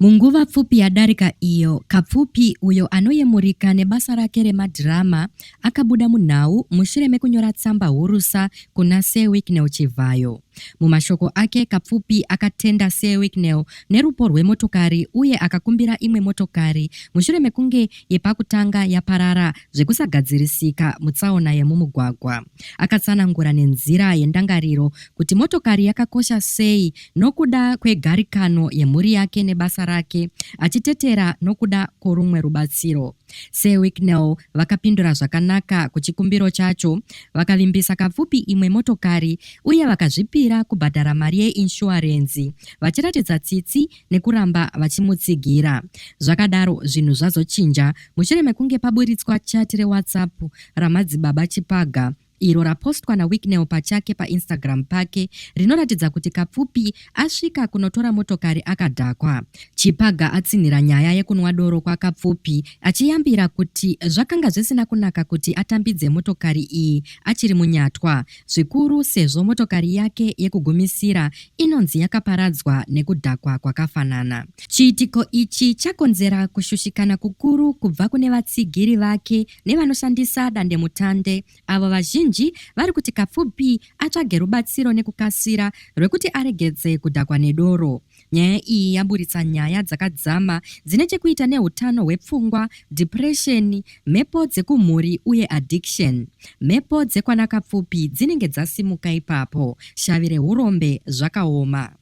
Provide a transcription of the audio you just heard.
Munguva pfupi yadarika iyo, Kapfupi, uyo anoyemurika nebasa rake remadhirama, akabuda munhau mushure mekunyora tsamba hurusa kuna Sir Wicknell Chivhayo. Mumashoko ake, Kapfupi akatenda Sir Wicknell nerupo rwemotokari uye akakumbira imwe motokari mushure mekunge yepakutanga yaparara zvekusagadzirisika mutsaona yemumugwagwa. Akatsanangura nenzira yendangariro kuti motokari yakakosha sei nokuda kwegarikano yemhuri yake nebasa rake, achitetera nokuda kworumwe rubatsiro. Sir Wicknell vakapindura zvakanaka kuchikumbiro chacho, vakavimbisa kapfupi imwe motokari uye vakazvipira kubhadhara mari yeinshuwarenzi, vachiratidza tsitsi nekuramba vachimutsigira. Zvakadaro, zvinhu zvazochinja mushure mekunge paburitswa chati reWhatsApp raMadzibaba Chipaga, iro rapostwa naWicknell pachake paInstagram pake rinoratidza kuti Kapfupi asvika kunotora motokari akadhakwa. Chipaga atsinhira nyaya yekunwa doro kwaKapfupi achiyambira kuti zvakanga zvisina kunaka kuti atambidze motokari iyi achiri munyatwa, zvikuru sezvo motokari yake yekugumisira inonzi yakaparadzwa nekudhakwa kwakafanana. Chiitiko ichi chakonzera kushushikana kukuru kubva kune vatsigiri vake nevanoshandisa dandemutande avo vazhinji vari kuti kapfupi atsvage rubatsiro nekukasira rwekuti aregedze kudhakwa nedoro nyaya iyi yaburitsa nyaya dzakadzama dzine chekuita neutano hwepfungwa dhipuresheni mhepo dzekumhuri uye addiction mhepo dzekwanakapfupi dzinenge dzasimuka ipapo shavi reurombe zvakaoma